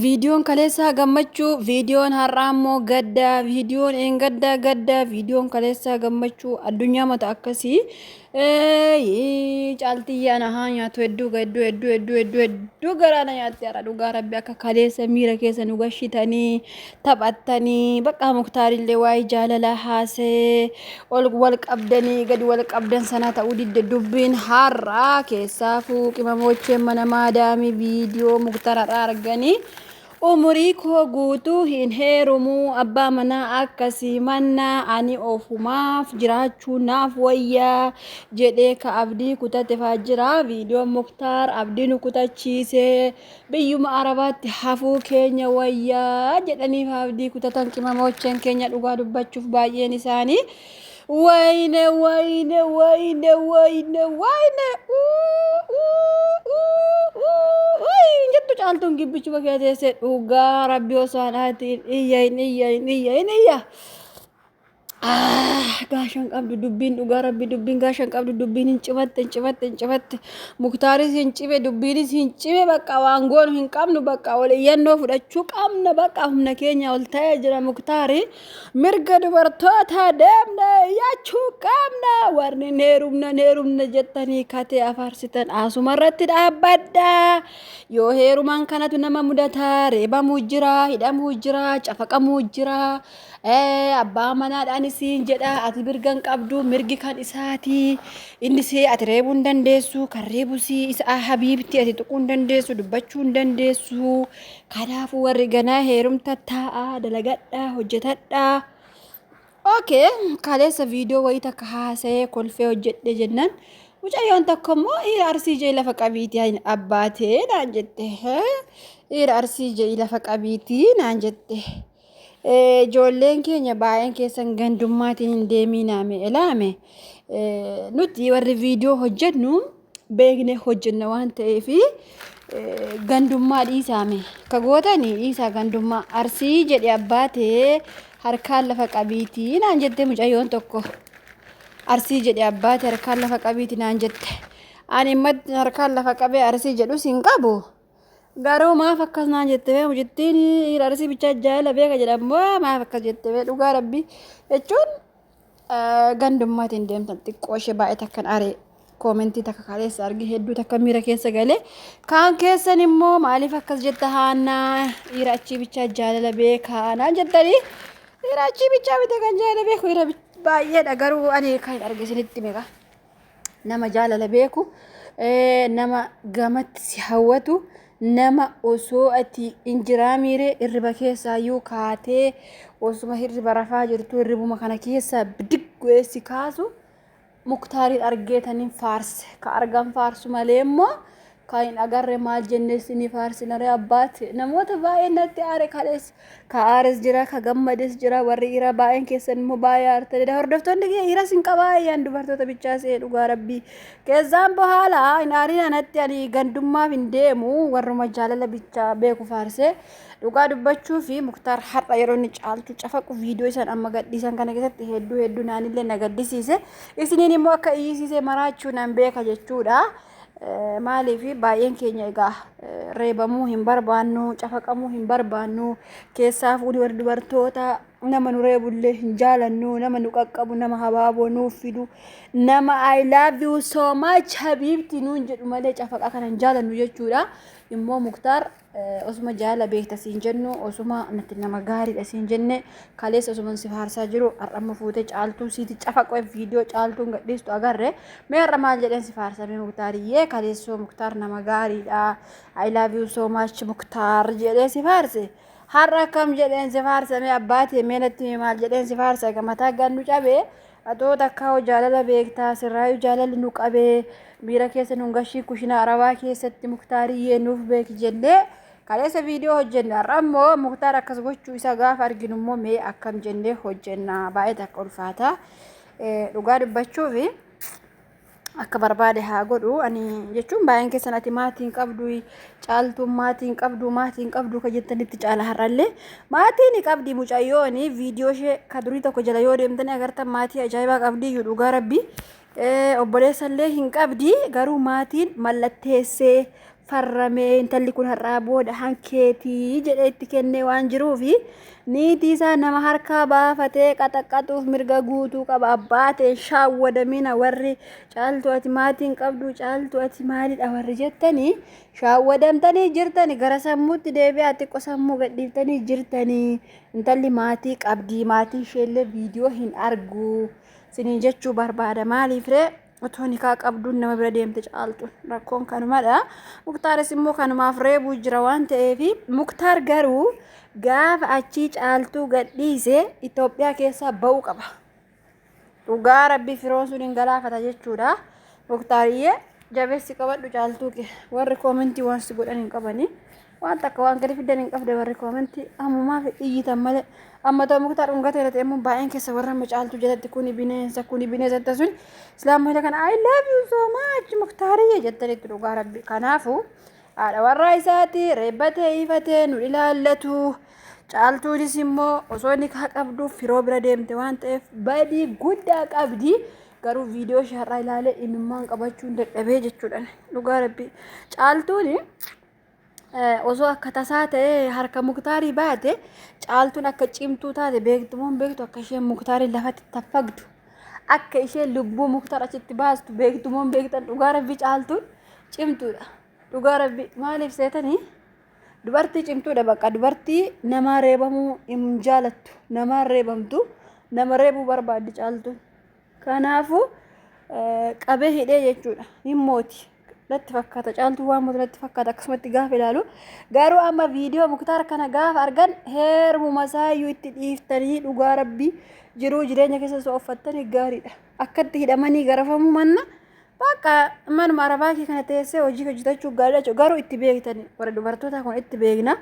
Viidiyoon kaleessaa gammachuu, viidiyoon har'aa immoo gadda, viidiyoon eengaddaa gadda, viidiyoon kaleessaa gammachuu addunyaa mata akkasii Eeyyii, caaltiyyee ana haa nyaatu hedduu ga- hedduu hedduu hedduu hedduu hedduu garaa na nyaatte har'a dhugaa rabbi akka kaleessa miira keessa nu gashitanii taphattanii baqqaa muktaarillee waa'ee jaalalaa haasee ol wal qabdanii gadi wal qabdan sana ta'uu didde dubbiin har'aa keessaa fuuqimamochee mana maadaamii viidiyoo muktararraa arganii umurii koo guutuu hin heerumuu abbaa manaa akkasii mannaa ani ofumaaf jiraachuu naaf wayyaa jedhee ka abdii kutatefaa jira viidiyoon muktaar abdii nu kutachiisee Biyyuma Arabaatti hafuu keenya wayya jedhanii faabdii kutatan qimamoocheen keenya dhugaa dubbachuuf baay'een isaanii wayne wayne wayne wayne wayne jettu caaltuun gibbichuma kee teessee dhugaa rabbi osoo anaatiin iyya hin iyya hin iyya hin iyya. gaashan qabdu dubbiin dhugaa rabbi dubbiin gaashan qabdu dubbiin hin cimatte hin cimatte hin cimatte muktaaris hin cime dubbiinis hin cime bakka waan goonu hin qabnu bakka ol iyyannoo fudhachuu qabna bakka humna keenya ol ta'ee jira muktaari mirga dubartoota deemne iyyachuu qabna warri neerumna neerumna jettanii katee afaarsitan asuma irratti dhaabbadha yoo heerumaan kanatu nama mudataa reebamuu jira hidhamuu jira cafaqamuu jira Ee abbaa manaadhaan isiin jedha ati mirga hin qabdu mirgi kan isaati inni si ati reebuu hin dandeessu kan reebu si isa habiibti ati tuquu hin dandeessu dubbachuu hin dandeessu kanaafuu warri ganaa heerumta taa'a dalagadhaa hojjetadhaa. Okay, kaleessa viidiyoo wayii takka haasa'ee kolfee hojjedhe jennaan mucayyoon tokko immoo dhiira arsii jee lafa qabiitii ani abbaatee naan jette. Hee? Dhiira arsii jee lafa qabiitii naan jette. Ijoolleen keenya baay'een keessan gandummaatiin hin deemiinaame ilaame nuti warri viidiyoo hojjennu beekne hojjenna waan ta'eef gandummaa dhiisaame ka gootani dhiisaa gandummaa arsii jedhe abbaa ta'ee harkaan lafa qabiitii naan jette mucayyoon tokko arsii jedhe abbaa ta'e harkaan lafa qabiitii naan jette ani immoo harkaan lafa qabee arsii jedhus hin qabu Garuu maaf akkas naan jette bee mucittiin arsii bichaa jaala beeka jedhan moo maaf akkas jette bee dhugaa rabbi jechuun gandummaatiin deemtan xiqqoo ishee baay'ee takkan aree koomentii takka kaleessa arge hedduu takka miira keessa galee kaan keessan immoo maaliif akkas jetta haannaa dhiira achii bichaa jaalala beekaa naan jettanii dhiira achii bichaa bita kan jaalala beeku dhiira baay'eedha garuu ani kan hin arge isinitti meeqa. nama jaalala beeku nama gamatti si hawwatu nama osoo ati hin jiraamiire hirriba keessaayyuu kaatee osuma hirriba rafaa jirtu hirribuma kana keessaa bidig godhee si kaasu muktaariin argeetaniin faarse ka argan faarsu malee immoo Kan hin agarre maal jennee isinii faarsinaree abbaat namoota baay'een natti aare kalees ka aares jira ka gammades jira warri dhiiraa baay'een keessan immoo baay'ee aartanidha hordoftoonni kiyya dhiiras hin qabaa yaan dubartoota bichaa se'ee dhugaa rabbii keessaan bohaala hin aarin anatti ani gandummaaf hin deemu warruma jaalala bichaa beeku faarsee dhugaa dubbachuu fi muktaar har'a yeroo inni caaltu cafaqu viidiyoo isaan amma gadhiisan kana keessatti hedduu hedduu naanillee na gaddisiise isiniin immoo akka iyyisiise maraachuu nan beeka jechuudha. Maaliif baay'een keenya egaa reebamuu hin barbaannu, cafaqamuu hin barbaannu, keessaa fuudhii warri dubartoota nama nu reebullee hin jaalannu, nama nu qaqqabu, nama habaaboo nuuf fidu, nama I love you so much habiibti nuun jedhu malee cafaqaa kana hin jaalannu jechuudha. Immoo Muktaar osuma jaala beekta siin jennu osuma nuti nama gaariidha siin jenne kaleessa osuma si faarsaa jiru har'amma fuute caaltuu siiti cafaqee viidiyoo caaltuun gadhiistu agarre mee har'a maal jedheen si faarsamee muktaariyyee kaleessoo muktaar nama gaariidha I love you so much muktaar jedhee si faarse har'a akkam jedheen si faarsamee abbaatee mee natti himi maal jedheen si faarsa egaa mataa gannu cabee Atoo takkaahuu jaalala beektaa sirraayuu jaalalli nu qabee miira keessa nun gashii kushinaa arabaa keessatti muktaariyyee nuuf beeki jennee kaleessa viidiyoo hojjenne har'a immoo muktaar akkas gochuu isaa gaafa arginu immoo mee akkam jennee hojjenna baay'ee takka ulfaata dhugaa dubbachuufi. akka barbaade haa godhu ani jechuun baay'een keessan ati maatii hin qabdu caaltuun maatii hin qabdu maatii hin qabdu ka jettanitti caala har'allee maatii ni qabdi mucayyooni viidiyoo ishee ka durii tokko jala yoo deemtanii agartan maatii ajaa'ibaa qabdi iyyuu dhugaa rabbi obboleessallee hin qabdi garuu maatiin mallatteessee farramee intalli kun har'aa booda hankeetii jedhee itti kennee waan jiruufi niitii isaa nama harkaa baafatee qaxaqqaxuuf mirga guutuu qaba abbaa ta'e shaawwadamina warri caaltu ati maatiin qabdu caaltu ati maalidha warri jettanii shaawwadamtanii jirtani gara sammuutti deebi'aa xiqqo sammuu gadhiiftanii jirtanii intalli maatii qabdii maatiin isheellee viidiyoo hin argu siniin jechuu barbaada maaliif ree Otoo nikaa qabduun nama bira deemte caaltuun rakkoon kanumadha. Muktaaris immoo kanumaaf reebuu jira waan ta'eef Muktaar garuu gaafa achii caaltuu gadhiise Itoophiyaa keessaa ba'uu qaba. Dhugaa rabbii firoon sun hin galaafata jechuudha. Muktaariyyee jabeessi qabadhu caaltuu kee warri koomentii waan si godhan hin qabanii. Waan takka waan gadi fiddan hin qabde warri koomentii ammumaaf iyyitan malee amma ta'u muktaar dhungatee irratti immoo baay'een keessa warra amma caaltuu jalatti kuni bineensa kuni bineensa jettan sun islaamota kana I love you so much muktaariyye jettanitti dhugaa rabbi kanaafu haadha warraa isaati reebbatee ifatee nu ilaallatu caaltuunis immoo osoo nikaa qabduuf firoo bira deemte waan ta'eef badii guddaa qabdi. garuu viidiyoo ishee har'aa ilaalee imimmaan qabachuun dadhabee jechuudhaan dhugaa rabbi caaltuuni osoo akka tasaa ta'ee harka muktaarii baate caaltuun akka cimtuu taate beektumoon beektu akka isheen muktaariin lafatti taffagdu akka isheen lubbuu muktaar achitti baastu beektumoon beektan dhugaa rabbii caaltuun cimtuudha dhugaa rabbii maaliif seetanii dubartii cimtuudha bakka dubartii namaa reebamuu hin jaalattu namaa reebamtu nama reebuu barbaaddi caaltuun. Kanaafuu qabee hidhee jechuudha. Hin mooti. Natti fakkaata. Caaltuu waan mootu natti fakkaata akkasumatti gaafa ilaalu. Garuu amma viidiyoo muktaar kana gaafa argan heerumuma isaayyuu itti dhiiftanii dhugaa rabbii jiruu jireenya keessa osoo uffattanii gaariidha. Akkatti hidhamanii garafamuu manna bakka manuma arabaa kee kana teessee hojii hojjetachuu gaariidha jechuudha. Garuu itti beektanii warra dubartootaa kun itti beekna.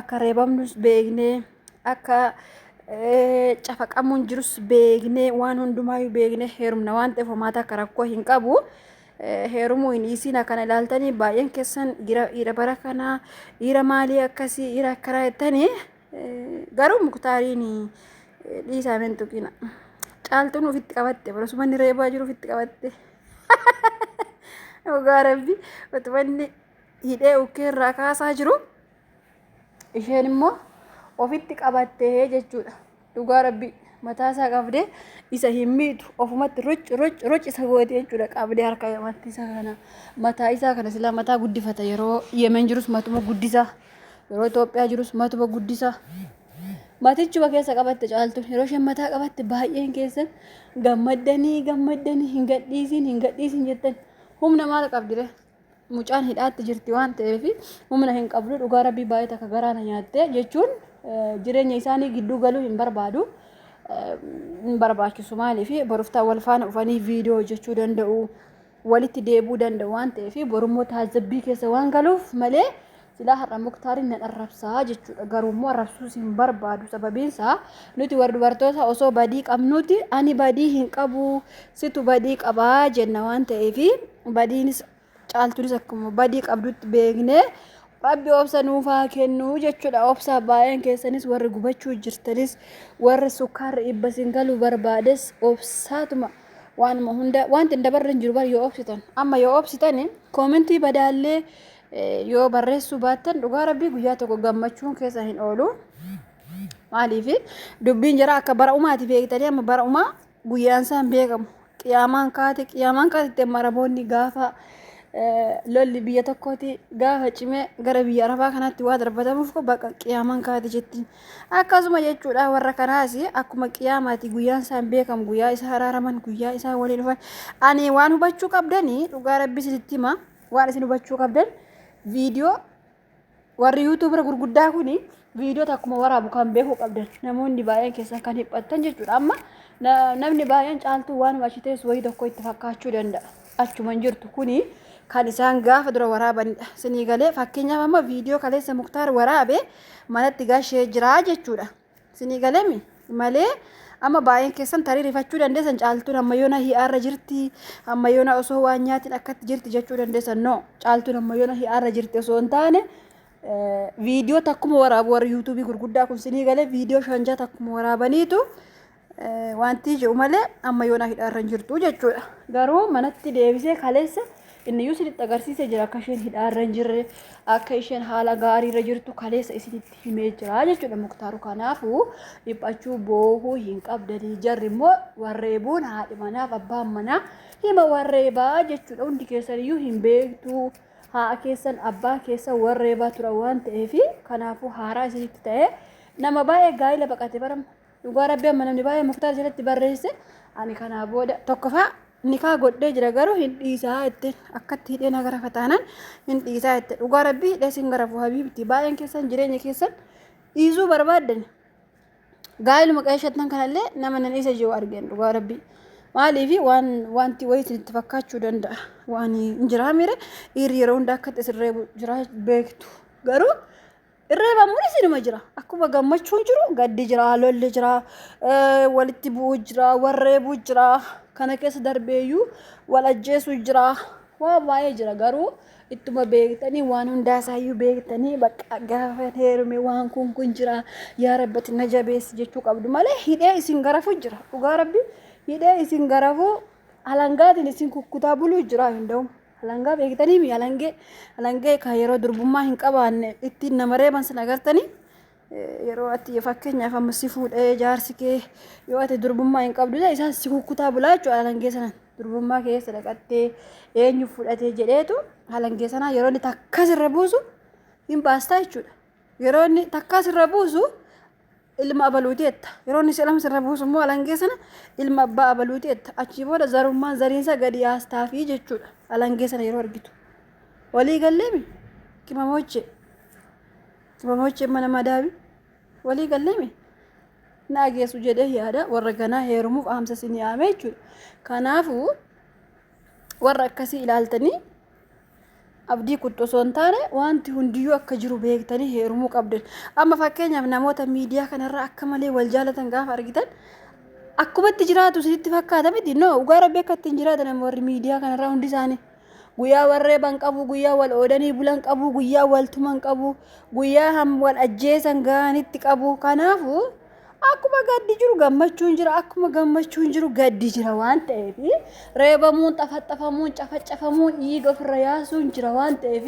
Akka reebamnus beeknee. akka cafaqamuun jirus beeknee waan hundumaayyuu beeknee heerumna waan ta'eef homaata akka rakkoo hin qabu. Heerumuu hin dhiisiin akkana ilaaltanii baay'een keessan dhiira bara kanaa dhiira maalii akkasii dhiira akkanaa jettanii garuu muktaariin dhiisaa min tuqina. Caaltuun ofitti qabatte bara sumanni reebaa jiru ofitti qabatte. Dhugaa rabbi utumanni hidhee ukkee irraa kaasaa jiru. isheen immoo ofitti qabattee jechuudha dhugaa rabbii mataa isaa qabdee isa hin miitu ofumatti ruc ruc ruc isa goote jechuudha qabdee harka lamatti isa kana mataa isaa kana silaa mataa guddifata yeroo yemen jirus matuma guddisa yeroo Itoophiyaa jirus matuma guddisa matichuma keessa qabatte caaltu yeroo isheen mataa qabatte baay'een keessan gammaddanii gammaddanii hin gadhiisiin hin gadhiisiin jettan humna maal qabdire mucaan hidhaatti jirti waan ta'eef humna hin qabdu dhugaa rabbii baay'ee takka garaa na nyaatte jechuun jireenya isaanii gidduu galuu hin barbaadu. Hin barbaachisu maaliif boroftaa wal faana dhufanii viidiyoo hojjechuu danda'u walitti deebuu danda'u waan ta'eef borummoo taajjabbii keessa waan galuuf malee Silaa har'a Muktaarin nan arrabsa jechuudha. Garuummoo arrabsuus hin barbaadu. Sababiinsaa nuti warri dubartoota osoo badii qabnuuti ani badii hin qabu situ badii qaba jenna waan ta'eef badiinis caaltuunis akkuma badii qabdutti beeknee rabbi obsa nuuf haa kennu jechuudha. Obsa baay'een keessanis warri gubachuu jirtanis warri sukkaarri dhibba sin galuu barbaades obsaatuma waanuma hunda wanti hin dabarre hin jiru bar yoo obsitan amma yoo obsitan koomentii badaallee Yoo barreessuu baattan dhugaa rabbii guyyaa tokko gammachuun keessa hin oolu. Maaliif dubbiin jira akka bara umaati beektanii amma bara umaa guyyaan isaan beekamu. Qiyaamaan kaate qiyaamaan kaate maraboonni gaafa lolli biyya tokkooti gaafa cimee gara biyya arabaa kanaatti waa darbatamuuf bakka qiyaamaan kaate jetti. Akkasuma jechuudha warra kanaas akkuma qiyaamaati guyyaan isaan beekamu guyyaa isaa haraaraman guyyaa isaa waliin dhufan. Ani waan hubachuu qabdanii dhugaa rabbii isinitti himaa. Waan isin hubachuu qabdan viidiyoo warri yuutuubira gurguddaa kuni viidiyoo takkuma waraabu kan beekuu qabdan namoonni baay'een keessan kan hiphattan jechuudha. Amma na- namni baay'een caaltuu waanuma achi teessu wayii tokko itti fakkaachuu danda'a. Achuma hin jirtu kuni kan isaan gaafa dura waraabanidha. Sinii galee fakkeenyaaf amma viidiyoo kaleessa muktaar waraabe manatti gashee jiraa jechuudha. Isinii galemi? Malee amma baay'een keessan tarii rifachuu dandeessan caaltuun amma yoona hi'aarra jirti amma yoona osoo waan nyaatiin akkatti jirti jechuu dandeessan no caaltuun amma yoona hi'aarra jirti osoo hin taane viidiyoo takkuma waraabu warri yuutuubii gurguddaa kun sinii galee viidiyoo shanjaa takkuma waraabaniitu Wanti jiru malee amma yoonaa hidhaarra hin jirtu jechuudha. Garuu manatti deebisee kaleessa inni iyyuu isinitti agarsiisee jira akka isheen hidhaarra hin jirre akka isheen haala gaariirra jirtu kaleessa isinitti himee jira jechuudha muktaaru kanaafuu dhiphachuu boohuu hin qabdanii jarri immoo warreebuun haadhi manaaf abbaan manaa hima warreebaa jechuudha hundi keessan iyyuu hin beektuu haadha keessan abbaa keessan warreebaa tura waan ta'eef kanaafuu haaraa isinitti ta'ee nama baay'ee gaa'ila baqate bara Dhugaa rabbi amma namni baay'ee muktaar jalatti barreesse ani kanaa booda tokkoffaa nikaa godhee jira garuu hin dhiisaa itti akkatti hidhee na garafa taanaan hin dhiisaa itti dhugaa rabbi hidhee sin garafu habiibti baay'een keessan jireenya keessan dhiisuu barbaaddan gaa'iluma qeeshattan kanallee nama nan isa jiru argeen dhugaa rabbi maaliif waan wanti wayii itti fakkaachuu danda'a waan hin jiraa mire dhiirri yeroo hunda akkatti isin reebu jiraa beektu garuu Irreebamuunis inuma jira. Akkuma gammachuun jiru gaddi jira, lolli jira, walitti bu'uu jira, warreebuu jira. Kana keessa darbeeyyuu wal ajjeesuu jira. Waa baay'ee jira garuu ittuma beektanii waan hundaasaayyuu beektanii bakka gaafa heerume waan kun kun jira yaa rabbati na jabeessi jechuu qabdu malee hidhee isin garafuu jira. Dhugaa rabbi hidhee isin garafuu alangaatiin isin kukkutaa buluu jira hin da'u. Alangaa beektanii mi alangee alangee kan yeroo durbummaa hin qabaanne ittiin nama reeban sin agartanii yeroo ati fakkeenyaaf amma si fuudhee jaarsi kee yoo ati durbummaa hin qabdu ta'e isaan si kukkutaa bulaa jechuudha alangee sanan durbummaa keessa dhaqattee eenyu fudhatee jedheetu alangee sanaa yeroo inni takkas irra buusu hin baastaa jechuudha yeroo inni takkas irra buusu ilma abaluuti jetta yeroo inni silama sirra buusu immoo alangee sana ilma abbaa abaluuti jetta achii booda zarummaan zariinsa gadi aastaafii jechuudha alangee sana yeroo argitu walii galleemi qimamoochee qimamoochee mana madaabi walii galleemi naa geessu jedhee yaada warra ganaa heerumuuf aamsa isinii aamee jechuudha kanaafuu Warra akkasii ilaaltanii abdii kuttu osoo hin taane wanti hundiyyuu akka jiru beektanii heerumuu qabdan. Amma fakkeenyaaf namoota miidiyaa kanarraa akka malee wal jaalatan gaafa argitan akkumatti jiraatu isinitti fakkaata miti no dhugaa rabbi akka ittiin jiraatan amma warri miidiyaa kanarraa hundi isaanii guyyaa warreeban qabu guyyaa wal oodanii bulan qabu guyyaa wal tuman qabu guyyaa ham wal ajjeesan ga'anitti qabu kanaafu Akkuma gaddi jiru gammachuun jira, akkuma gammachuun jiru gaddi jira waan ta'eef reebamuun, xafaxafamuun, cafacafamuun, dhiiga ofirra yaasuun jira waan ta'eef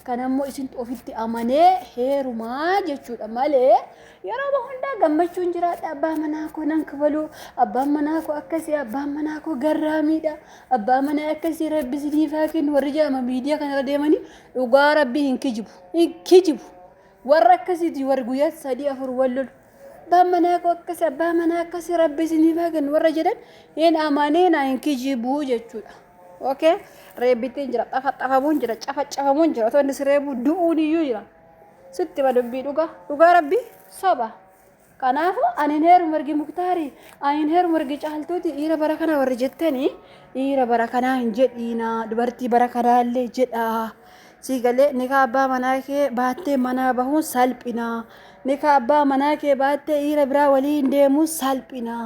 kan ammoo isintu ofitti amanee heerumaa jechuudha malee yeroo hundaa gammachuun jiraadha abbaa manaa koo nan kabaluu abbaan manaa koo akkasii abbaan manaa koo garraamiidha abbaa manaa akkasii rabbi isiniif haa kennu warri jedhama miidiyaa kanarra deemanii dhugaa rabbii hin kijibu hin kijibu Warra akkasiiti warri guyyaatti sadii afur wal lolu. Abbaan manaa koo akkasi abbaa manaa akkasi rabbi isiniif haa kennu warra jedhan hin amaniina hin kijibuu jechuudha. Okay? Reebbitiin jira, xafaxafamuun jira, cafacafamuun jira, otoo inni si reebuu du'uun iyyuu jira. Sitti hima dubbii dhugaa. Dhugaa rabbi soba. Kanaafu ani hin heerumu ergi muktaari ani hin heerumu ergi caaltuuti dhiira bara kana warri jettani dhiira bara kanaa hin jedhiina dubartii bara kanaa illee jedhaa sii galee nikaa abbaa manaa kee baattee manaa bahuun salphina nikaa abbaa manaa kee baattee dhiira biraa walii hin deemuun salphina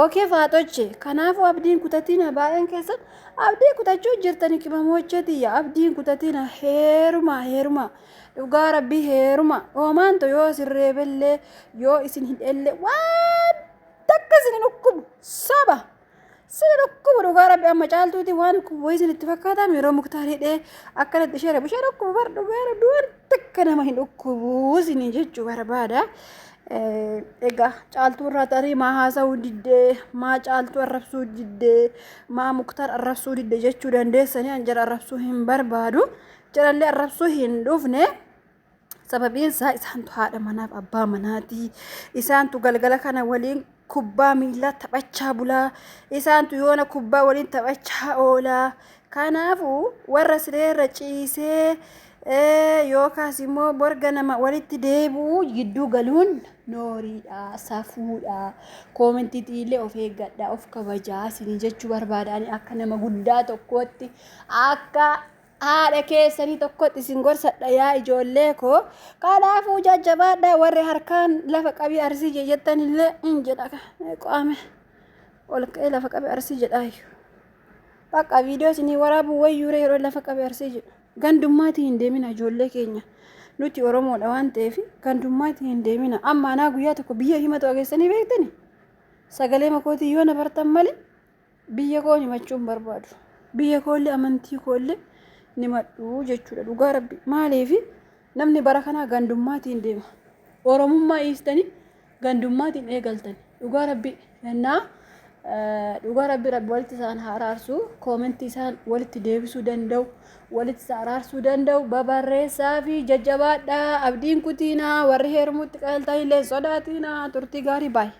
ookee faaxoche kanaafu abdiin kutatiina baay'een keessan abdii kutachuu jirtani qimamoochee tiyya abdiin kutatiina heerumaa heerumaa Dhugaa rabbii heeruma hoomaan to yoo isin reebellee yoo isin hidhelle waan takka isin hin dhukkubu soba isin hin dhukkubu dhugaa rabbi amma caaltuuti waan dhukkubu isin itti fakkaataa yeroo muktaar hidhee akkanatti ishee reebu ishee dhukkubu bar dhugaa rabbi waan takka nama hin dhukkubu isin jechuu barbaada. Egaa caaltuu irraa tarii maa haasa'uu diddee maa caaltuu arrabsuu diddee maa muktaar arrabsuu diddee jechuu dandeessanii an jara arrabsuu hin barbaadu. Jalallee arrabsuu hin dhufne. Sababiin isaa isaantu haadha manaaf abbaa manaati. Isaantu galgala kana waliin kubbaa miilaa taphachaa bulaa. Isaantu yoona kubbaa waliin taphachaa oolaa. Kanaafuu warra sireerra ciisee eh, yookaas immoo borga nama walitti deebi'u gidduu galuun nooriidha, safuudha. Koomentiitii illee of eeggadha, of kabajaa isinii jechuu barbaada. Ani akka nama guddaa tokkootti akka Haadha keessanii tokkotti isin gorsadha yaa ijoollee koo. Kanaafuu jajjabaadhaa warri harkaan lafa qabii arsii jee jettan illee hin jedha qaame ol ka'ee lafa qabii arsii jedhaayyu. Bakka viidiyoo isinii waraabuu wayyuure yeroo lafa qabii arsii jedhu. Gandummaatii hin deemina ijoollee keenya. Nuti Oromoodha waan ta'eef gandummaatii hin deemina. Amma anaa guyyaa tokko biyya himatu ageessanii beektani? Sagalee makootii yoo na bartan malee Biyya koon himachuu hin barbaadu. Biyya koollee amantii koollee hin himadhu jechuudha dhugaa rabbi. Maaliif namni bara kanaa gandummaatiin deema. Oromummaa dhiistanii gandummaatiin eegaltan. Dhugaa rabbi yennaa dhugaa rabbi rabbi walitti isaan haa araarsu koomentii isaan walitti deebisuu danda'u walitti isa araarsuu danda'u babarreessaa fi jajjabaadhaa abdiin kutiinaa warri heerumuutti qajeeltan illee sodaatiinaa turtii gaarii baay'ee.